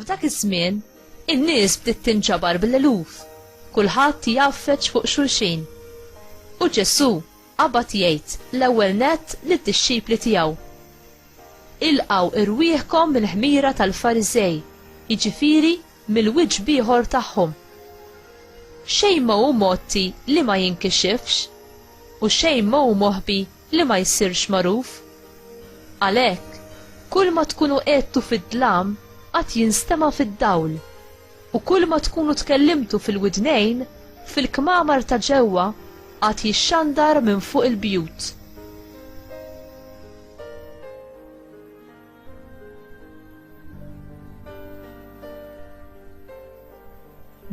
F'dak iż-żmien, in-nies bdiet tinġabar bil-eluf. Kulħadd jaffeġ fuq xulxin. U Ġesù qabad jgħid l-ewwel nett lid-dixxipli tiegħu. Ilqgħu irwieħkom mill-ħmira tal-Fariżej, jiġifieri mill-wiċċ b'ieħor tagħhom. Xejn ma hu mgħotti li ma jinkixifx, u xejn ma hu moħbi li ma jsirx magħruf. Għalhekk, kull ma tkunu għedtu fid-dlam għad jinstema' fid-dawl, u kull ma tkunu tkellimtu fil-widnejn fil-kmamar ta' ġewwa għad jixxandar minn fuq il-bjut.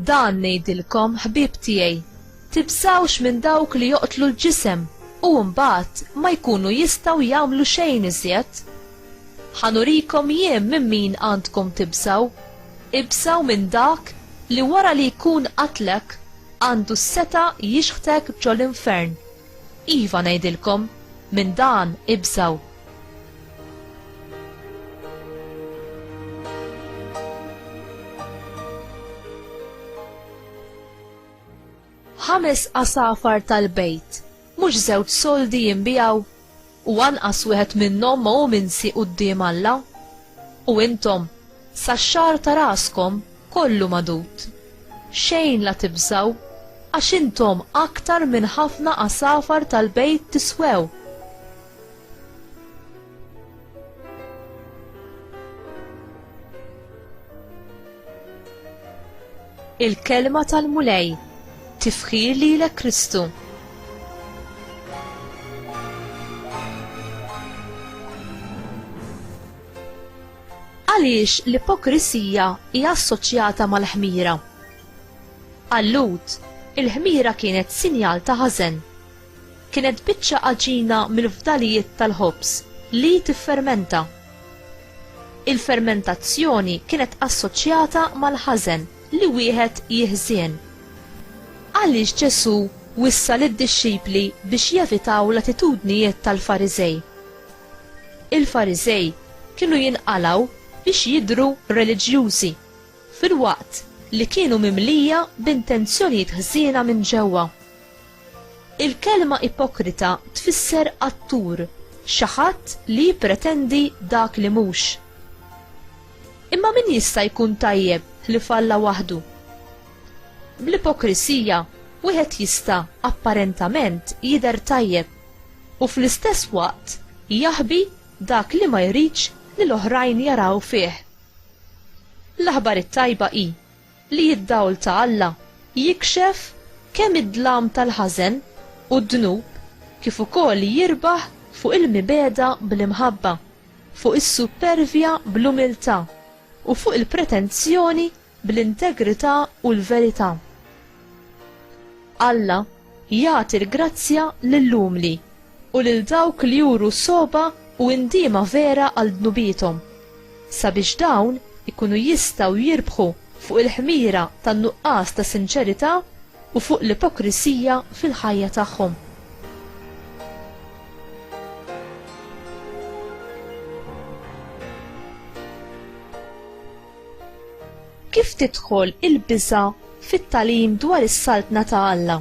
Dan ngħidilkom ħbieb tiegħi, tibżawx minn dawk li joqtlu l-ġisem u mbagħad ma jkunu jistgħu jagħmlu xejn iżjed. Ħanurikom jien minn min għandkom tibżaw, ibżaw minn dak li wara li jkun qatlek għandu s-seta jixħtek ġol-infern. Iva ngħidilkom, minn dan ibżaw. ħames asafar tal-bejt, mhux żewġ soldi jinbijaw, u anqas wieħed minnhom ma hu minsi quddiem Alla. U intom, sa xar ta' raskom kollu madut. Xejn la tibżaw, għax intom aktar minn ħafna asafar tal-bejt tiswew. Il-kelma tal-Mulej tifħir lilek Kristu. Għaliex l-ipokrisija hija assoċjata mal-ħmira. Allut, il-ħmira kienet sinjal ta' ħażen. Kienet biċċa għaġina mill-fdalijiet tal-ħobż li tiffermenta. Il-fermentazzjoni kienet assoċjata mal-ħażen li wieħed jiħżien. Għaliex Ġesù wissa lid-dixxipli biex jevitaw l-attitudnijiet tal-Fariżej? Il-Fariżej kienu jinqalgħu biex jidhru reliġjużi, filwaqt li kienu mimlija b'intenzjonijiet ħżiena minn ġewwa. Il-kelma ipokrita tfisser attur, xi ħadd li jippretendi dak li mhux. Imma min jista' jkun tajjeb li falla waħdu? Bl-ipokrisija wieħed jista' apparentament jidher tajjeb u fl-istess waqt jaħbi dak li ma jridx li l-oħrajn jaraw fih. L-aħbar it-tajba hi li d-dawl ta' Alla jikxef kemm id-dlam tal-ħażen u d-dnub kif ukoll jirbaħ fuq il-mibegħda bl-imħabba, fuq is-suppervja bl-umiltà, u fuq il-pretenzjoni bl-integrità u l-verità. Alla Jagħti l-grazzja lill-umli, u lil dawk li juru sogħba u indiema vera għal dnubiethom, sabiex dawn ikunu jistgħu jirbħu fuq il-ħmira tan-nuqqas ta' sinċerità u fuq l-ipokrisija fil-ħajja tagħhom. Kif tidħol il-biża' fit-tagħlim dwar is-Saltna ta' Alla?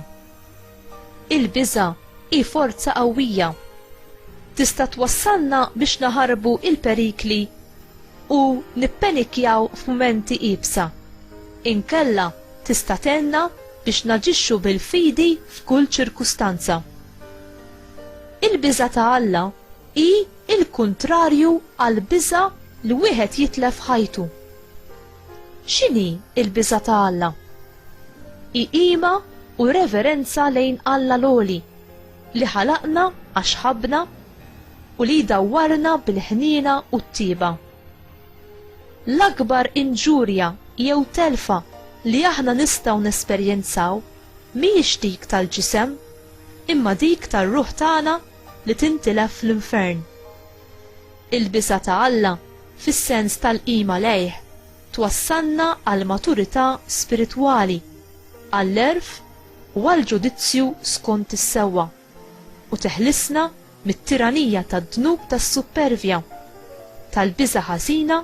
Il-biża' hi forza qawwija. Tista' twassalna biex naħarbu l-perikli u nippenikjaw f'mumenti iebsa. Inkella tista' tgħinna biex naġixxu bil-fidi f'kull ċirkustanza. Il-biża' ta' Alla hi il-kuntrarju għall-biża' li wieħed jitlef ħajtu. X'inhi l-biża' ta' Alla? Hi qima u reverenza lejn Alla l-Għoli, li ħalaqna għax ħabbna u li jdawwarna bil-ħniena u t-tieba. L-akbar inġurja jew telfa li aħna nistgħu nesperjenzaw mhijiex dik tal-ġisem, imma dik tar-ruħ tagħna li tintilef fl-infern. Il-bisa ta' Alla, fis-sens tal-qima lejh, twassalna għal maturità spiritwali, għall-għerf u għall-ġudizzju skont is-sewwa, u teħlisna mit-tiranija tad-dnub tas-suppervja, tal-biża' ħażina,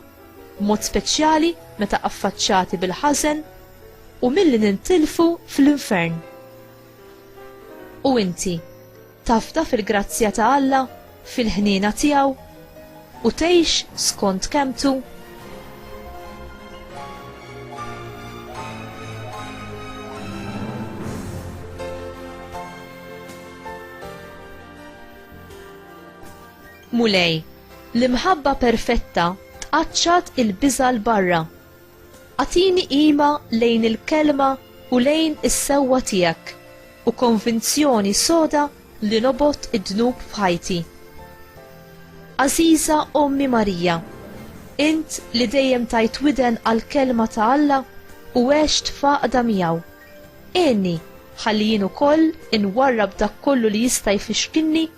b'mod speċjali meta affaċċati bil-ħażen, u milli nintilfu fl-infern. U inti? Tafda fil-grazzja ta' Alla, fil-ħniena tiegħu, u tgħix skont kelmtu? Mulej, l-imħabba perfetta tqaċċat il-biża' 'l barra. Agħtini qima lejn il-Kelma u lejn is-sewwa tiegħek u konvinzjoni soda li nobgħod id-dnub f'ħajti. Għażiża Ommi Marija, int li dejjem tajt widen għall-Kelma ta' Alla u għext f'għaqda miegħu, għinni ħalli jien ukoll inwarrab dak kollu li jista' jfixkilni